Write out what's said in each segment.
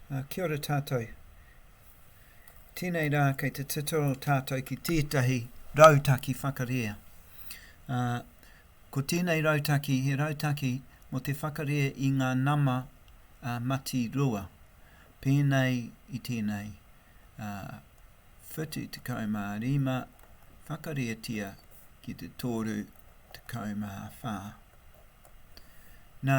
Kia ora tātou. Tēnei rā kei te tito tātou ki tētahi rautaki whakarea. Ko tēnei rautaki he rautaki mō te whakarea i ngā nama matirua. Pēnei i tēnei 75 whakareatia ki te 34. Nā,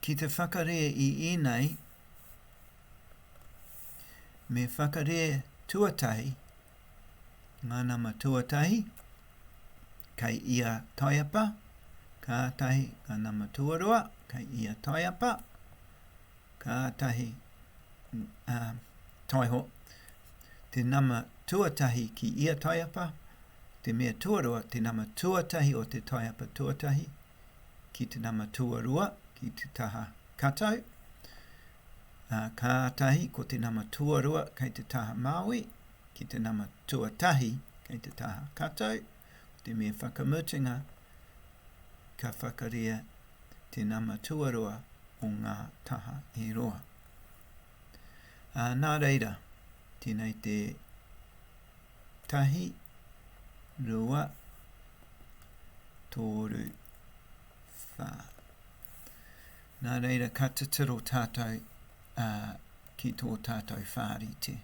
Ki te whakarē i ēnei, me whakarē tuatahi ngā nama tuatahi kei ia taiapa, kātahi ngā nama tuarua kei ia taiapa, kātahi taiho te nama tuatahi ki ia taiapa, te mea tuarua, te nama tuatahi o te taiapa tuatahi, ki te nama tuarua, ki te taha katau, ā, kātahi ko te nama tuarua kei te taha māui, ki te nama tuatahi kei te taha katau, ko te mea whakamutunga, ka whakaria te nama tuarua o ngā taha e rua. Ā, nā reira, tēnei te. Tahi, rua, tōru, whā. Nā reira ka titiro tātou ā ki tō tātou whārite.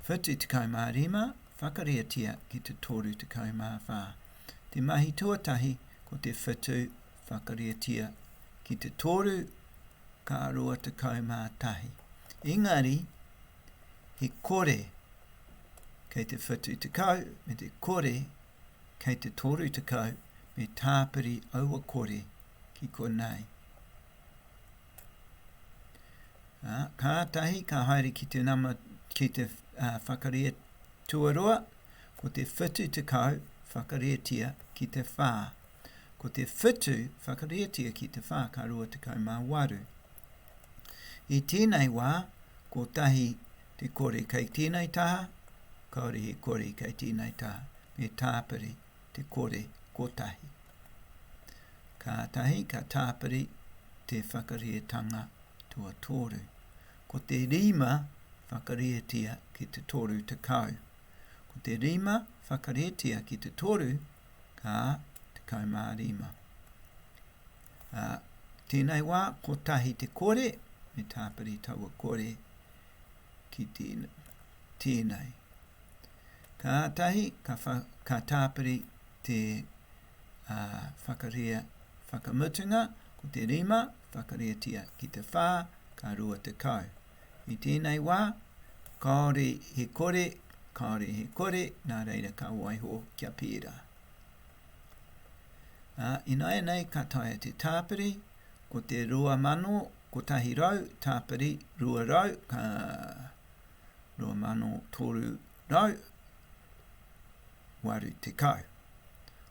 Whitu tekau mā rima, whakareatia ki te toru tekau mā whā. Te mahi tuatahi ko te whitu whakareatia ki te toru, ka rua tekau mā tahi. Engari, he kore kei te 70 me te kore kei te 30 me tāpiri aua kore ki konei. Ā, kātahi ka haere ki te nama, ki te ā, whakaria tuarua, ko te 70 whakarietia ki te whā. Ko te whetū whakarētia ki te whā ka 28. I tēnei wā, kotahi te kore kei tēnei taha, kāore he kore kei tēnei taha, me tāpiri te kore kotahi. Kātahi ka tāpiri te whakarētanga tuatoru. Ko te rima whakarētia ki te 30. Ko te rima whakarētia ki te toru Ā, tekau mā rima. Ā, tēnei wā, kotahi te kore, me tāpiri taua kore ki tēnei. Kātahi ka, ka tāpiri te ā, whakaria whakamutunga, ko te rima, whakariatia ki te whā, ka rua tekau. I tēnei wā, kāore he kore, kāore he kore, nā reira ka waiho kia pērā. Ā, ināianei ka taea te tāpiri, ko te 2,100 tāpiri 200 ka 2,380.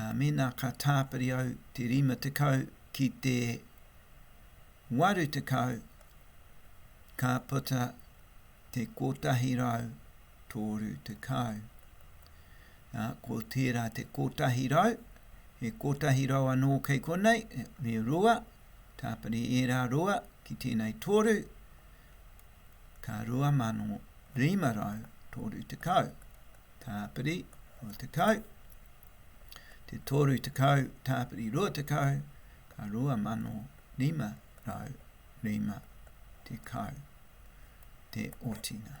Ā, mēnā ka tāpiri au te rima tekau ki te waru tekau, ka puta te kotahi rau tōru tekau. Ā, ko tērā te kotahi rau, he kotahi rau anō kei konei, me rua, tāpiri ērā rua ki tēnei tōru, ka rua mano rima rau tōru tekau. Tāpiri, o te tau te tōru tekau, tāpiri rua tekau, ka rua mano rima rau rima tekau te otinga.